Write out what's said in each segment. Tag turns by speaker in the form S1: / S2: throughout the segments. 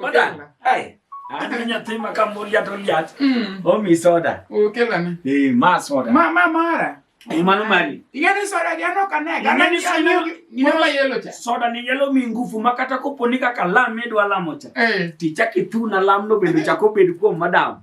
S1: Madam, hey. Ani nyathi ma kambolia to liach. Mm. Omi soda. Ukela ni. Eh, ma soda. Ma ma mara. Eh, mano mari. Igani soda jano kane. Gana ni soda ni mama yelo cha. Soda ni yelo mi ngufu makata koponi kaka lam idwa lamo cha. Eh. Tichaki tu na lam no bedo chako bedo kuom madam.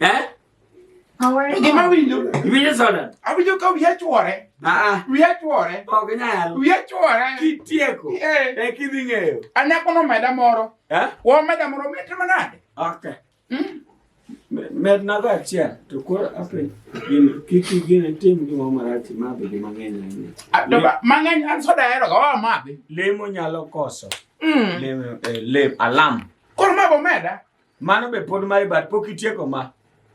S1: Eh? Gima winjo. Winjo soda. Awinjo ka wiya chwore. Ah. Wiya chwore. Ok nyal. Wiya chwore. Kitieko. Eh. eh kidhi ng'eyo. Anyako no meda moro. Eh? Wo meda moro mit manade. Okay. Mm. Med nago achiel to koro ape gin kiki gin tim gima marach madhi gi mang'eny ahinya. Ah, mang'eny an soda hero ga wa madhi. Lemo nyalo koso. Mm. Lemo eh, lem alam. Koro mago meda. Mano be pod mae bat pok itieko ma.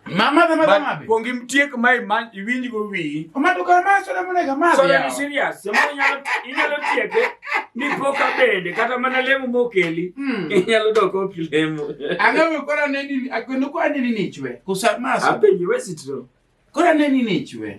S1: Mama the mother mabe. Kuongi mtiek mai man iwinj go wi. Omado kar ma soda mona ga ma. Soda ni serious. Somo nyalo inyalo tieke ni poka bende kata mana lemo mokeli. Hmm. Inyalo doko kilemo. Anga me kora ne ni akwendo kwa ne ni nichwe. Kusa maso. Apenyi wesitro. Kora ne ni nichwe.